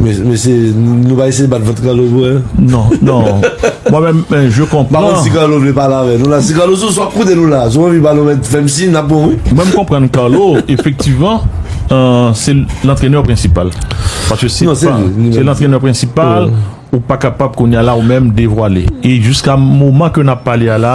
Mesye, nou pa eseye bat vant Carlo pou mwen. Non, non. Mwen menm, men, je konpran. Bakon si Carlo vle pale avè nou la. Si Carlo sou swaf koute nou la. Si w anvi pale w mèt fè m siy, n ap bon wi. Mwen m konprann Carlo, efektivman, se lantrenè prensipal. Paske se pa. Non, se li. Se lantrenè prensipal, ou pa kapab kounye a la ou menm devwale. E jiska moman ke n ap pale a la.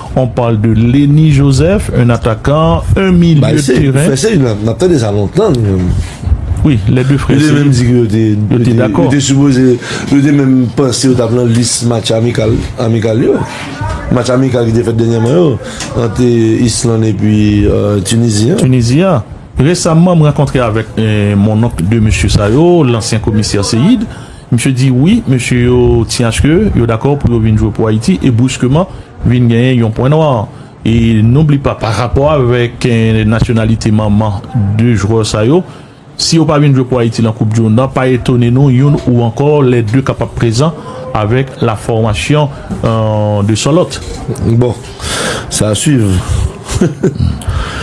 On parle de Lenny Joseph un attaquant un milieu de terrain. Bay se frè se yo nap tande sa lontan nou menm. Wi lè 2 frè se yo. Yo te menm di ke yo te yo te dakò. Yo te sipoze yo te menm panse yo tap nan lis match amikal amikal yo. Match amikal ki te fèt dènyèman yo ant Island epi Tunizi an. Tunizi an. Resamman m rankontre avèk mon oncle 2 mesye sa yo, lansyen komisè Seyid. Misye di wi, mesye yo ti aske yo dakò pou yo vin jwe pou Ayiti e briskeman vin genyen yon pwen nwa. E nou bli pa pa rapò avèk nasyonalite manman 2 jwè sa yo, si yo pa vin jwe pou Ayiti nan koup dimond lan pa etone nou youn ou ankò lè 2 kapab prezan avèk la fòmasyon 2 sòlòt. Bon, Sa suiv.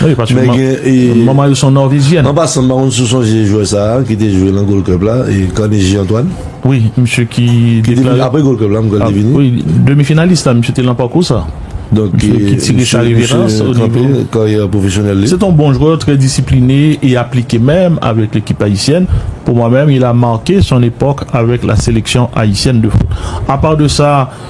Wi paske men gen e manman yo son nòvizyen. An pasan m pa konn si w sonje jwè sa a ki te jwe nan Gold Cup la e Carnegie Antoine. Wi, misye ki deklare Apre Gold Cup la m kwè l te vini. Wi, demi finalis la misye te lan pakou sa. Donk e misye kanpe karyè pwofesyonèl li. Misye ki tire sa reverans. Se ton bon jwè, trè disipline e aplike menm avèk lekip ayisyèn. Pou mwen menm il a marke son epòk avèk la seleksyon ayisyèn de foot. Apa de sa,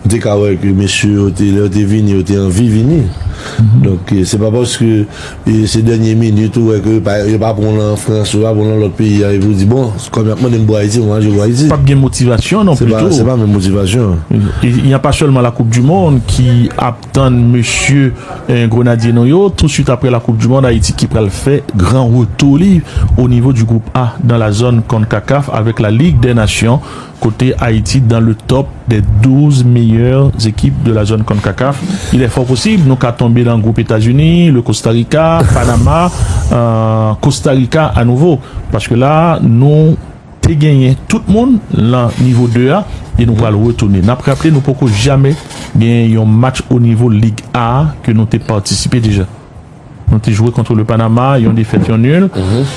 Nou te ka wè ke mesye yo te, lè yo te vini, yo te anvi vini. Donk, se pa paske se dènye minit ou wè ke yo pa, yo pa pran w lan an Frans, yo pa pran w lan lòt peyi a, epi ou di, bon, kòm y ap mande m pou Ayiti, mwen aji pou Ayiti. Pap gen motivasyon non pli tou. Se pa menm motivasyon. E y a pa sèlman la koup di mond ki ap tann mesye Grenadye nou yo. Touswit apre la koup di mond, Ayiti ki pral fè gran retou li o nivo di gwoup A dan la zòn Concacaf avèk la Lig dè Nasyon. Kote Ayiti dan le tòp dè 12 meyè ekip de la zòn Concacaf, il è fò posib nou ka tonbe nan gwoup Etazini, le Kosta Rika, Panama, Kosta Rika a nouvo. Paske la nou te genyen tout moun lan nivo 2 a e nou pral retounen. Nap raple nou poko jamè genyen yon match o nivo Lig A ke nou te patisipe deja. Nou te jwe contre le Panama, yon defèt yon nul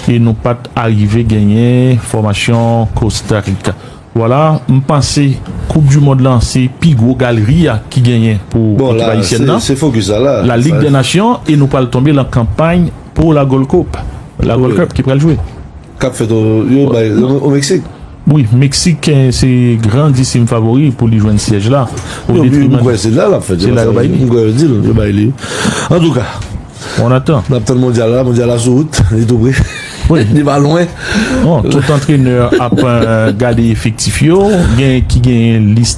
e nou pat arive genyen fòmasyon Costa Rica. Vwala, m panse koup du mond lan se pi gwo galri a ki genyen pou ekip ayisyèn nan, la Ligue des Nations e nou pral tonbe lan kanpay pou la Gold Coupe, la Gold Cup ki pral jwe. K ap fèt o Mexique. Wi mexicain se gran disim favori pou li jwenn syèj la o detriman de. Se la lap fèt se la yo bay li. Mwen kwè yo dil yo bay li wi. Antouka On attend. Nap tann mondyal la, mondyal la sou wout, li tou pre. Li pa lwen. Bon tout antrenè ap gade efektif yo, gen ki gen lis.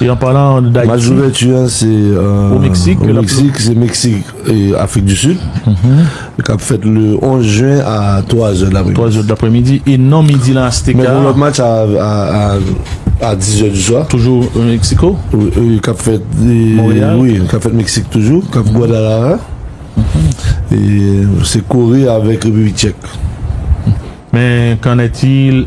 E an palan de Dayiti. Match d'ouverture an se au Mexique. Au Mexique, se Mexique et Afrique du Sud. Kap fèt le 11 juin a 3 zè d'après midi. 3 zè d'après midi e non midi lan Azteca. Men gen lòt match a 10 zè du swa. Toujou au Mexico. Oui, kap fèt. Montréal. Oui, kap fèt Mexique toujou. Kap Guadalajara. E se Corée avèk République Tchèque. Men, qu'en est-il?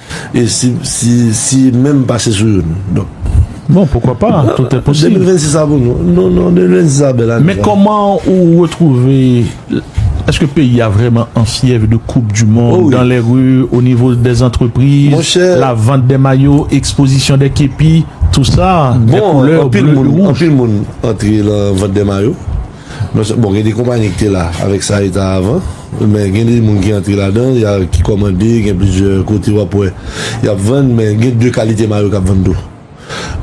E si, si, si menm pase sou youn? Donk. Bon, poukwa pa? Tout e posib. 2026 la pou nou. Non, non, 2026 la bèl ane. Men kòman ou retwouve, èske peyi a vrèman an fyèv de koup di mond, dan lè ri, o nivo dè zantrepriz, la vant dè mayo, ekspozisyon dè kepi, tou sa, dè koulè, bleu, rouj. Bon, anpil moun, anpil moun antre lan vant dè mayo. Non sèl bon gen de konpani ki te la avèk sa e ta avan men gen de moun ki antre ladan ya ki kòmande gen plizyè kote wap wè yap vann men gen de kalite mayo kap vann tou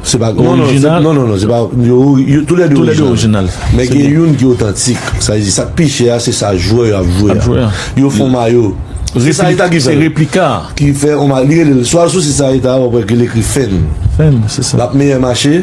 se pa Non non se non non se pa yo yo tou lè de orijinal tou lè de orijinal men gen youn ki otantik sa vle di sak pi chè a se sa jwè yo ap jwe ap jwe a yo fon mayo se sa e ta ki fè l se replika a ki fè on ma li rele l swa sou sit sa e ta wap wè ke l ekri fèn fèn se sa lap meyè mache.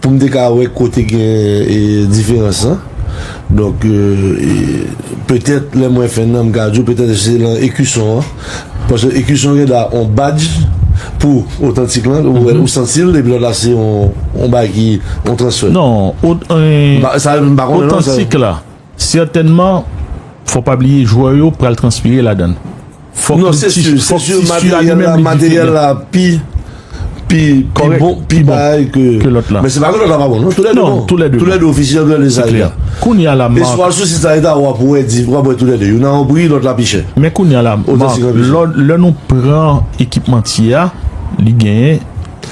Pou m te ka wè kote gen diferans lan. Donk, petèt lè mwen fè nan m ka di w petèt se lan ekison an. Paske ekison gen dwa on badj pou otantik lan ou wè ou santi l epi lòt la se on bagay ki on transfè. Non, otantik la. Sètènman, fò pa bliye jwè yo pral transpire ladan l. Fòk li ti su, fòk ti su a li menm li diferan. Kòrèk, pi bon ke lòt la. Non, tou lè 2 bon. Se klè. Kounye a la Marc. Men kounye a la Marc, lè nou pran ekipmantye a, li genyen.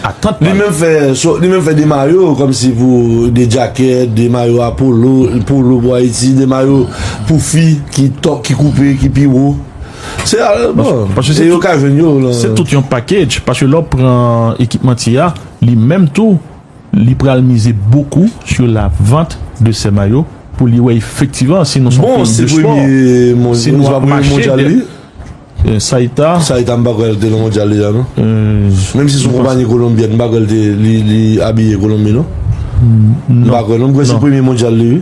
atant pa li. Li menm fè 2 mayo kòm si pou 2 djakèt, 2 mayo a polo, polo pou Ayiti, 2 mayo pou fi ki koupe, ki pi wo. Se al bon. Paske se yo ka jwenn yo lan. Se tout yon package. Paske lè w pran ekipmantye a, li menm tou, li pral mize bokou sou la vant de sè mayo pou li wè efektivan si nou son peyi de spò, si nou ap mache dè. Saïta. Saïta m pa kwè l te nan mondyal deja non. Menm si son konpanye kolonbyèn m pa kwè l te li abiye kolonbi non. M pa kwè non m kwè se premye mondyal li wi.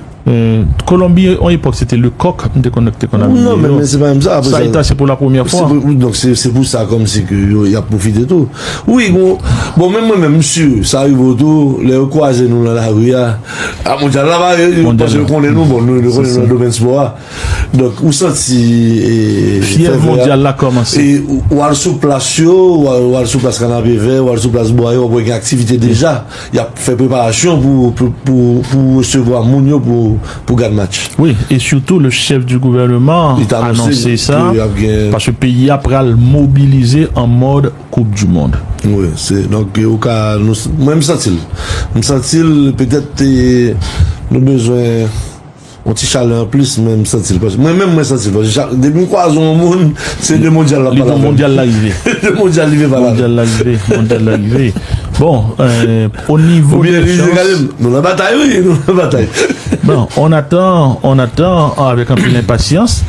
Kolonbi on epòk se te le coq m te konnen ki te konn abiye yo. Non men se pa menm sa. Saïta se pou la premyè fwa. Donk se pou sa kòm si ke yo y ap pwofite tou. Wi gon bon menm mwen menm m si sa rive w tou lè yo kwaze nou nan lari a. A mondyal la ba yo paske yo konnen nou bon nou konnen nou nan domèn spò a. Donk ou santi e Fyèv mondyal la kòmanse. E ou al sou plas yo, ou al sou plas Kanapevè, ou al sou plas Bwaye, wap wè gen aktivite deja. Yap fè preparasyon pou resevwa moun yo pou gad match. Wi, e sitou le chèf di gouvèneman anonse sa, paske peyi a pral mobilize an mòd koup di mond. Wi, se donk ou ka, mwen m santi l. M santi l petèt nou bezwen. On ti chalè anplis men m santi l paske mwen menm mwen santi l paske chak depi m kwaze on moun se de mondyal l ap pale avè m. Li di w mondyal la rive. De mondyal li vle pale avè m. Mondyal la rive, mondyal la rive. Bon, o nivo de chans. Oubyen li di gade m, nou nan batay wi, nou nan batay. Bon, on atan, on atan avèk anpil enpasyans.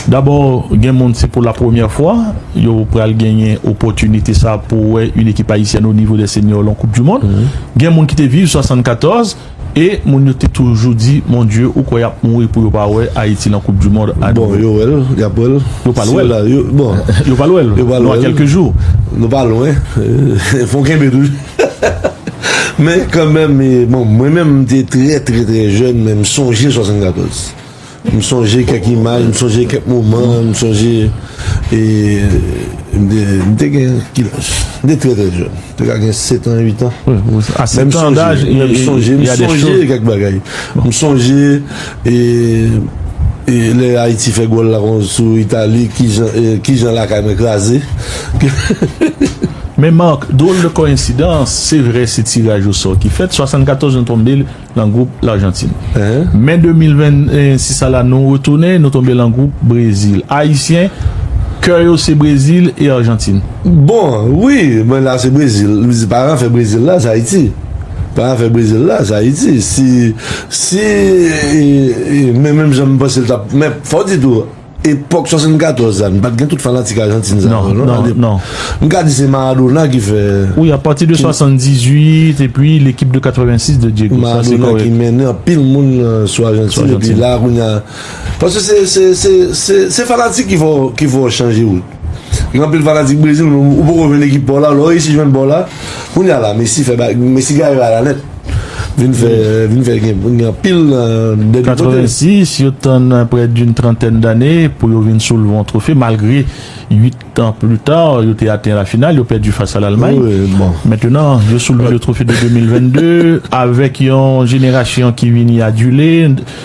Dabò gen moun se pou la premyè fwa yo pral genyen opòtinite sa pou wè yn ekip ayisyèn o nivo dè senyò lan koup di mond. Gen moun ki te viv 74. E moun yo te toujou di mon Dieu ou kwè yap mouri pou yo pa wè Haïti nan koup du mond a nouvo. Bon yo wèl, yap wèl. Yo pral wèl. Yo pral wèl. Nou a kèlke jou. Nou pa lwen. Fon kenbe toujou. Men kanmenm bon mwen menm m te trè trè trè jèn men m sonje 74. M sonje kèk imaj, m sonje kèk moman, m sonje e m te gen ki laj? M te trè trè jèn. M te ka gen 7 an, 8 an. A 7 an daj e m sonje kèk bagay. M sonje e lè Ayiti fè gòl la kont sou Itali, ki jan lakay mwen kraze. Men Marc, drôle de coïncidence, se vre se tiraj osò ki fèt, 74 nou tonbe. Lan gwoup Larjantin. Me 2026 a la nou retounen, nou tonbe lan gwoup Brezil. Ayisyen, kè yo se Brezil e Arjantin. Bon, wi, men la se Brezil. M di paran fè Brezil la se Ayiti. Paran fè Brezil la se Ayiti. Si, si, men menm jan m panse l t ap, men fò w di tou. Epòk 74 la, n pa t gen tout fanatik Ajantin sa yo non. Alèk, m ka di se Maradona ki fè. Wi, apati de 78, epi lekip de 86 de Diego. Maradona ki mennen anpil moun sou Ajantin, epi la kounye a. Paske se fanatik ki fè w chanje wout. Gen anpil fanatik Brezil men ou poko jwenn ekip pa w la, lè w resi jwenn pa w la, kounya la Messi fè bagay, Messi gare bagay la nèt. Vin fè, vin fè gen gen anpil nan de de kote. 86, yo tann prè d'une trantèn dane pou yo vin soulve yon twofe malgre 8 tan pli ta yo te aten la final, yo pèdi fas a Lalmay. Mentenan, yo soulve le twofe de 2022 avèk yon jenerasyon ki vini adule.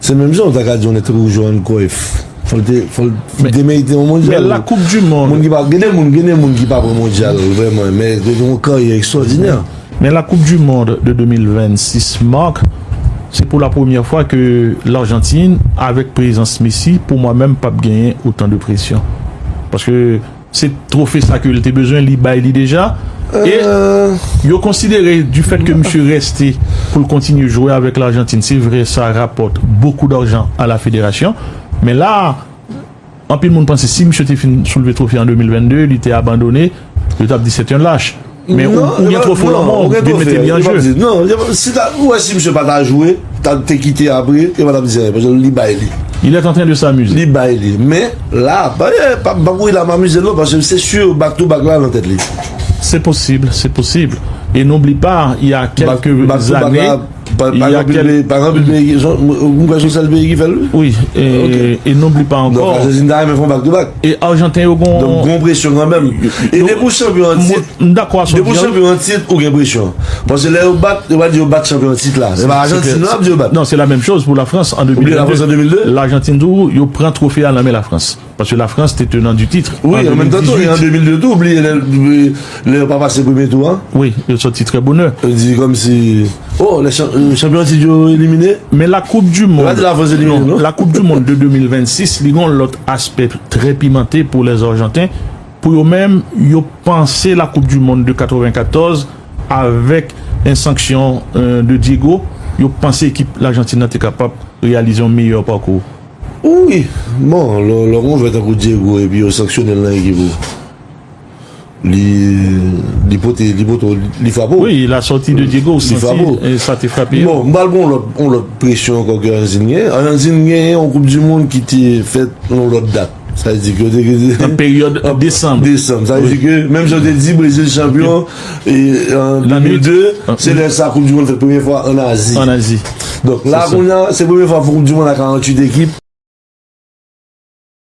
Se menm jan ou ta ka di yon nèg tankou Johan Cruyff, fò l te, fò l te merite yon mondyal. Men la koup di mond. Moun ki pa, gen de moun, gen de moun ki pa pran mondyal vrèman, men yo gen yon karyè ekstwòdinè. Men la koup di mond de 2026 Marc, se pou la premyè fwa ke Larjantin avèk prezans Messi pou mwen menm pap genyen otan de presyon. Paske. Se twofe sa ke l te bezwen, li bay li deja. E yo konsidere di fèt ke misye reste pou l kontinye jwe avèk Larjantin, se vre sa rapòt bokou darjan a la federasyon. Men la a, anpil moun panse si misye te fin soulve twofe an 2022, li te abandone, yo t ap di sèt yon lach. Men ou gen twofo lanmò, ou vin mete li an je. Non, si ta, ou wè si misye pa ta jwe, ta te kite apre, yo pa tap di anyen, paske li bay li. Il est antren de s'amuser. Li bay li. Men, la, pa ye, pa banm ri la m amuze non, paske se sur back to back la nan tèt li. Se posib, se posib. E n'oublie pas, il y a quelques années. Pa anpil peyi ki fè l. Mwen kwè se sèl peyi ki fè l wi. Wi, e non blipa ankò. Donk Ajantin ta renmen fè yon bak tou bak. E Ajanten yo gon. Donk gon presyon kanmenm. E depi ou chanpyon an tit. M dakò a sa w di a wi. Depi ou chanpyon an tit ou gen presyon. Paske lè yo bat, yo pa di yo bat chanpyon an tit la. Se pa Ajantin yo ap di yo bat. Non, se la menm choz pou Lafrans an 2002. Oubyen Lafrans an 2002. Lajantin tou yo pran twofe a nan men Lafrans. Paske la France te tenant du titre en 2018. Wi, an menm tan tou, e an 2002 tou, ou bliye lè, lè yo pa pase premye tou an. Wi, yo sòti trè bonè. Yo di kòm si, oh, lè chan, chanpyon an tit yo elimine. Men la koup du mond. Yo pa di la France elimine non. La koup du mond de 2026, li gen yon lòt aspè trè pimante pou les argentins. Pou yo menm, yo panse la koup du mond de 94 avèk en sanksyon de Diego, yo panse ekip L'Argentine nan te kapab reyalize yon meyè pakou. Wi, bon lò lò gon jwè tankou Diego epi yo sanksyone l nan ekip ou li li pote li pote w li frape w. Wi, la sortie de Diego ou santi sa te frape yo. Bon, m pral pran yon lòt yon lòt presyon ankò ke Anzin gen. Anzin gen yon koup di mond ki te fèt yon lòt dat. Sa vle di ke yo te gen. Nan peryòd desanm. Desanm. Sa vle di ke menm jan yo te di Brezil chanpyon. E an 2002, se lè sa koup di mond fèt premye fwa an Azi. An Azi. Donk la kounya se premye fwa koup di mond a 48 ekip.